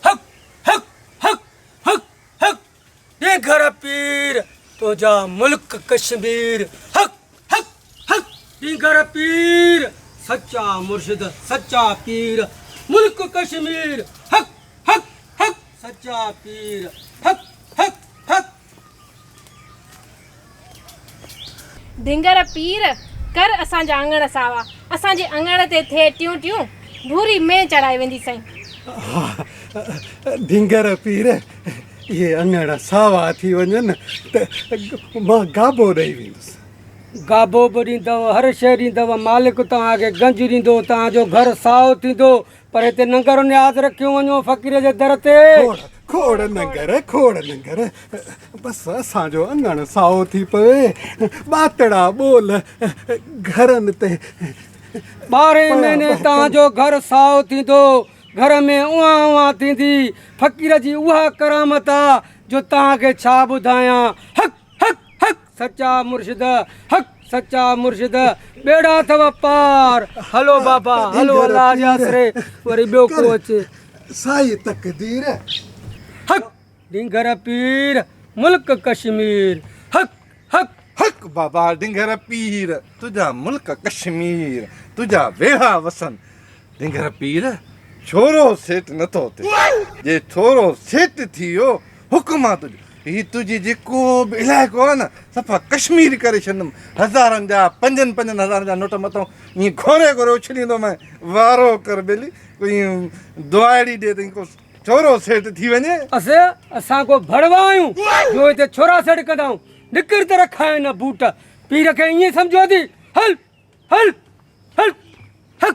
هڪ هڪ هڪ هڪ هڪ ڏينگهر پير تنهنجا ملڪ ڪشمير هڪ هڪ هڪ ڏينگهر پير سچا مرشد سچا پير ملڪ ڪشمير هڪ هڪ هڪ سچا پير هڪ هڪ هڪ ڌنگر پير! ڪر اسان جا اڱڻ ساوا. اسان جي اڱڻ تي ٿئي ٽيون ٽيون. ڀوري مين چڙهائي ويندي سائين. ها ڌنگر پير! اهي اڱڻ ساوا ٿي وڃن ته مان گابو ڏئي ويندس. گابو به ڏيندؤ، هر شيء ڏيندؤ. مالڪ توهان کي گنج ڏيندو، توهان جو گهر سائو ٿيندو. پر هتي ننگر نياز رکيون وڃو فقير جي در تي کوڙ ننگر کوڙ ننگر بس اسان جو اڱڻ سائو ٿي پوي ٻاتڙا ٻول گهرن تي ٻارهين مهيني توهان جو گهر سائو ٿيندو گهر ۾ اوهان اوهان ٿيندي فقير جي اها ڪرامت آ جو توهان کي ڇا ٻڌايان هڪ هڪ هڪ سچا مرشد حق سچا مرشد ٻيڙا اٿو پار هلو بابا هلو الله جي آسري وري ٻيو ڪو اچي سائي تقدير حق ڊنگر پير ملڪ ڪشمير حق حق حق بابا ڊنگر پير تنهنجا ملڪ ڪشمير تنهنجا ويڙا وسن ڊنگر پير ڇورو سيٽ نٿو ٿي جي ڇورو سيٽ ٿي ويو حڪم آ تنهنجو هي تنهنجي جيڪو به علائقو آ نه صفا ڪشمير ڪري ڇڏندم هزارن جا پنجن پنجن هزارن جا نوٽ مٿون ائين گهوري گهوري اڇليندومانء وارو ڪر ٻيلي ڪوئي دعائڙي ڏي تئين ڪو ڇورو سيٽ ٿي وڃي. اس اسان ڪو ڀڙوا آهيون جو هتي ڇورا سيٽ ڪندائون نڪر ته رکائين نه بوٽ پير کي ائين سمجهو ٿي هل هل هل هڪ.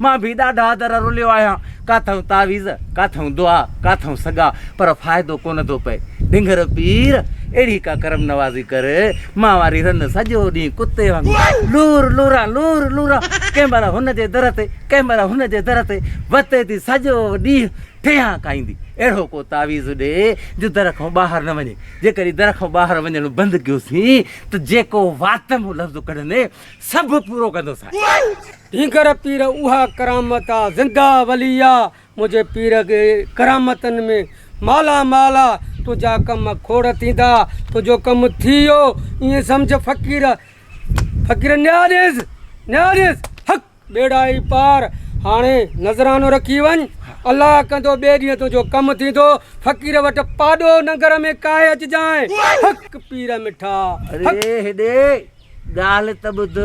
مان به ڏاڍا در رليو آهيان، ڪاٿئون تعويذ، ڪاٿئون دعا، ڪاٿئون سڳا، پر فائدو ڪونه ٿو پئي. ڊنگر پير! اهڙي ڪا ڪرم نوازي ڪر، مان واري رن سڄو ڏينهن ڪتي وانگر لور لوران، لور لوران، ڪنهن مهل هن جي در تي، ڪنهن مهل هن جي در تي وتي ٿي سڄو ڏينهن ٺيهان کائيندي. اهڙو ڪو تعويذ ڏي، جو در کئون ٻاهر نه وڃي. جيڪڏهن در کئون ٻاهر وڃڻ بند ڪيوسين، ته جيڪو وات مون لفظ ڪڍندين، سڀ پورو ڪندو سائين. ڍينگهر پير اها ڪرامت آ زنده ولي آ منهنجي پير کي ڪرامتن ۾ مالا مال آ تنهنجا ڪم کوڙ ٿيندا تنهنجو ڪم ٿي ويو ائين سمجهه فقير فقير نياڻيس نياڻيس حق. ٻيڙائي پار، هاڻي نذرانو رکي وڃ، الله ڪندو ٻئي ڏينهن تنهنجو ڪم ٿيندو، فقير وٽ پاڏو ننگر ۾ ڪاهي اچجانء، حق پير مٺا، حق. اڙي هيڏي، ڳالهه ته ٻڌ،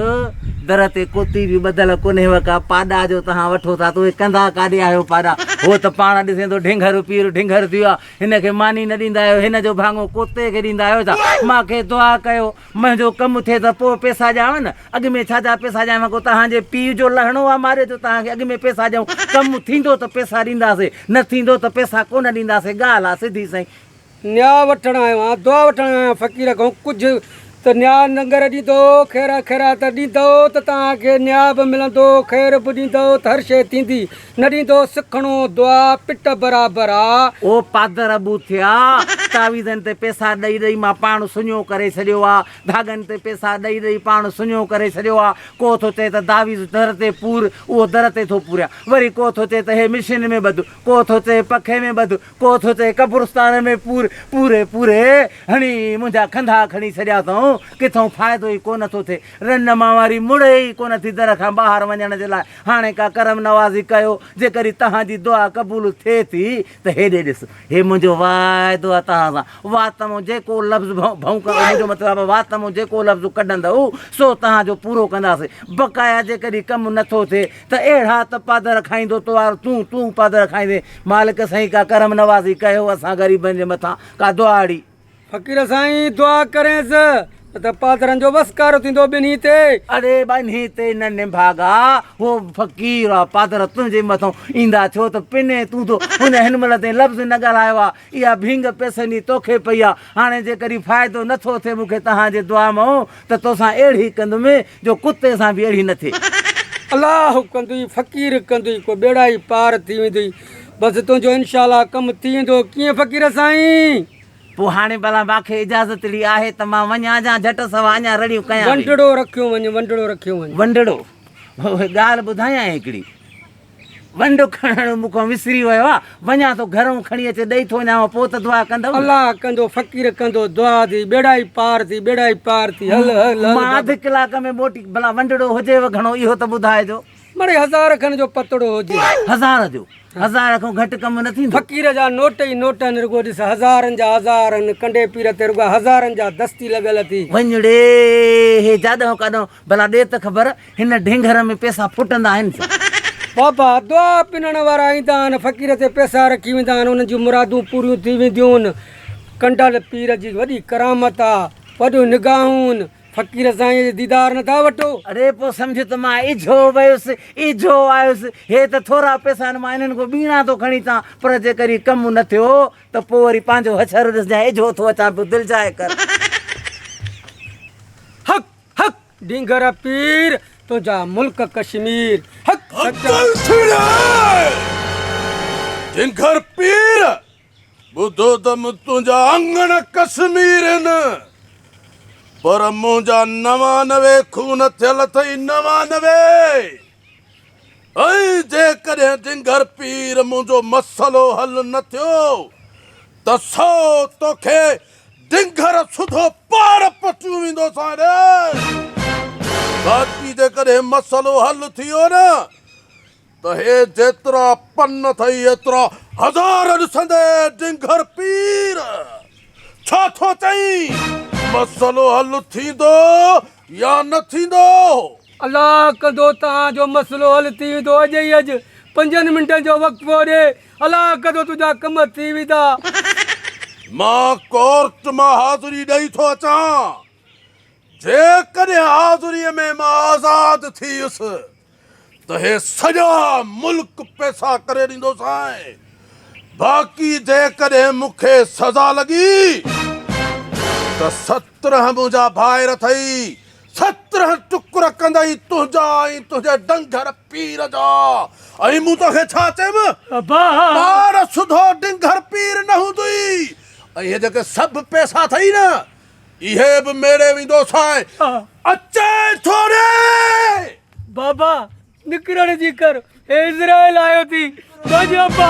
در تي ڪوتي به ٻڌل ڪونهيو ڪا، پاڏا جو تهان وٺو ٿا ته اهي ڪندا ڪاڏي آهيو پاڏا، هو ته پاڻ ڏسين ٿو ڍينگهر پير ڍينگهر ٿي ويو آهي، هن کي ماني نه ڏيندا آهيو، هن جو ڀاڱو ڪوتي کي ڏيندا آهيو ڇا، مان کي دعا ڪيو، منهنجو ڪم ٿئي ته پوء پيسا ڏيانو نه. اڳ ۾ ڇا جا پيسا ڏيانو ڪو توهان جي پيء جو لهڻو آ ماريو جو توهان کي اڳ ۾ پيسا ڏيون. ڪم ٿيندو ته پيسا ڏينداسي نه ٿيندو ته پيسا ڪونه ڏينداسي ڳالهه آ سڌي سائين. نيا وٺڻ آيو آهيان دعا وٺڻ آيو آهيان فقير کان ڪجهه ته نيا ننگر ڏيندو خيرا خيرات ڏيندو ته توهان کي نيا به ملندو خير به ڏيندو ته هر شيء ٿيندي نه ڏيندو سکڻو دعا پٽ برابر آ. او پادر ابو ٿيا، تعويذن تي پيسا ڏئي ڏئي مان پاڻ سڃو ڪري ڇڏيو آ، ڌاڳن تي پيسا ڏئي ڏئي پاڻ سڃو ڪري ڇڏيو آ، ڪو ٿو چئي ته تعويذ در تي پور، اهو در تي ٿو پوريان، وري ڪو ٿو چئي ته هي مشين ۾ ٻڌ، ڪو ٿو چئي پکي ۾ ٻڌ، ڪو ٿو چئي قبرستان ۾ پور، پوري پوري هڻي منهنجا کنڌا کڻي ڇڏيا اٿئون، ڪٿئون فائدو ئي ڪونه ٿو ٿئي، رنڊ مان واري مڙي ئي ڪونه ٿي در کان ٻاهر وڃڻ جي لاء، هاڻي ڪا ڪرم نوازي ڪيو، جيڪڏهن توهان جي دعا قبول ٿئي ٿي ته هيڏي ڏس، هي منهنجو واعدو آهي توهان سان، واتمون جيڪو لفظ ڀؤنڪ ڪندؤ، منهنجو مطلب آهي واتمون جيڪو لفظ ڪڍندؤ، سو توهان جو پورو ڪنداسين، بقايا جيڪڏهن ڪم نه ٿو ٿئي ته اهڙا ته پادر کائيندو توهان تون تون پادر کائيندين، مالڪ سائين ڪا ڪرم نوازي ڪيو اسان غريبن جي مٿان، ڪا دعا اڙي. فقير سائين دعا ڪرينس ته پادرن جو وسڪارو ٿيندو ٻنهي تي. اڙي ٻنهي تي نه نڀاڳا هو فقير آ پادر تنهنجي مٿان ايندا ڇو ته پني تون ٿو هن هن مهل تائين لفظ نه ڳالهايو آ اها ڀينگ پئسن جي توکي پئي آ هاڻي جيڪڏهن فائدو نه ٿو ٿئي مون کي تنهان جي دعا مئو ته توسان اهڙي ڪندم جو ڪتي سان به اهڙي نه ٿئي. الله ڪندئي فقير ڪندئي ڪو ٻيڙا ئي پار ٿي ويندئي بس تنهنجو انشاء الله ڪم ٿي ويندو ڪيئن فقير سائين. پوء هاڻي ڀلا ماکي اجازت ڙي آهي ته مان وڃان جان جهٽ سوا اڃان رڙيون ڪيان ويهي. ونڊڙو رکيو وڃ ونڊڙو رکيو وڃ. ونڊڙو هوء ڳالهه ٻڌايان هڪڙي. ونڊ کڻڻ مون کان وسري ويو آ. وڃان ٿو گهرئون کڻي اچي ڏئي ٿو وڃانء پوء ته دعا ڪندم. الله ڪندو فقير ڪندو دعا ٿي ٻيڙا ئي پار ٿي ٻيڙا ئي پار ٿي هل هل هل بابا. مان اڌ ڪلاڪ ۾ موٽي ڀلا ونڊڙو هجيو گهڻو اهو ته ٻڌائجو. مڙئي هزار کن جو پتڙو هجي. هزار جو هزار کان گهٽ ڪم نه ٿيندو. فقير جا نوٽ ئي نوٽ هن رڳو ڏس هزارن جا هزار هن ڪنڊي پير تي رڳا هزارن جا دستي لڳل اٿي. وڃڙي هي جاڏهون ڪاڏهون ڀلا ڏي ته خبر هن ڍينگهر ۾ پيسا ڦٽندا آهن ڇو. بابا دعا پنڻ وارا ايندا آهن فقير تي پيسا رکي ويندا آهن انهن جون مرادون پوريون ٿي وينديون ڪنڊل پير جي وڏي ڪرامت آ وڏيون نگاهون فقير سائينء جو ديدار نه ٿا وٺو؟ اڙي پوء سمجهه ته مان اجهو ويس، اجهو آيس. هي ته ٿورا پئسا آهن، مان انهن کان ٻيڻا ٿو کڻي اچان، پر جيڪر هي ڪم نه ٿيو ته پوء وري پنهنجو هڇر ڏس جانء اجهو ٿو اچان پيو، دل جاء ڪر. هڪ هڪ ڊينگر پير، تنهنجا ملڪ ڪشمير. هڪ هڪ دل ڇيڙي ڊينگر پير. ٻڌو ته مون تنهنجا اڱڻ ڪشمير هن، پر منهنجا نوانوي خون ٿيل اٿئي نوانوي، ۽ جيڪڏهن ڊنگر پير منهنجو مسئلو حل نه ٿيو ته سو توکي ڊنگر سڌو پاڙ پٽيون ويندو ساڻي، باقي جيڪڏهن مسئلو حل ٿي ويو نه، ته هي جيترا پن اٿئي ايترا هزار ڏسندي ڊنگر پير ڇا ٿو چئين؟ مسئلو حل ٿيندو يا نه ٿيندو؟ الله ڪندو توهان جو مسئلو حل ٿي ويندو اڄ ئي اڄ پنجن منٽن جو وقفو ڏي الله ڪندو تنهنجا ڪم ٿي ويندا. مان ڪورٽ مان حاضري ڏئي ٿو اچان. جيڪڏهن حاضريء ۾ مان آزاد ٿيس ته هي سڄا ملڪ پئسا ڪري ڏيندوسانء، باقي جيڪڏهن مون کي سزا لڳي ته سترهن منهنجا ڀائر اٿئي، سترهن ٽڪر ڪندئي تنهنجا ۽ تنهنجي ڊنگر پير جا. ۽ مون توکي ڇا چيم؟ ٻار سڌو ڊنگر پير نه هوندئي، ۽ هي جيڪي سڀ پئسا اٿئي نه، اهي به ميڙي ويندو سائين اچي ٿو ري. بابا نڪرڻ جي ڪر هي اسرائيل آيو ٿي ڀڄ ابا.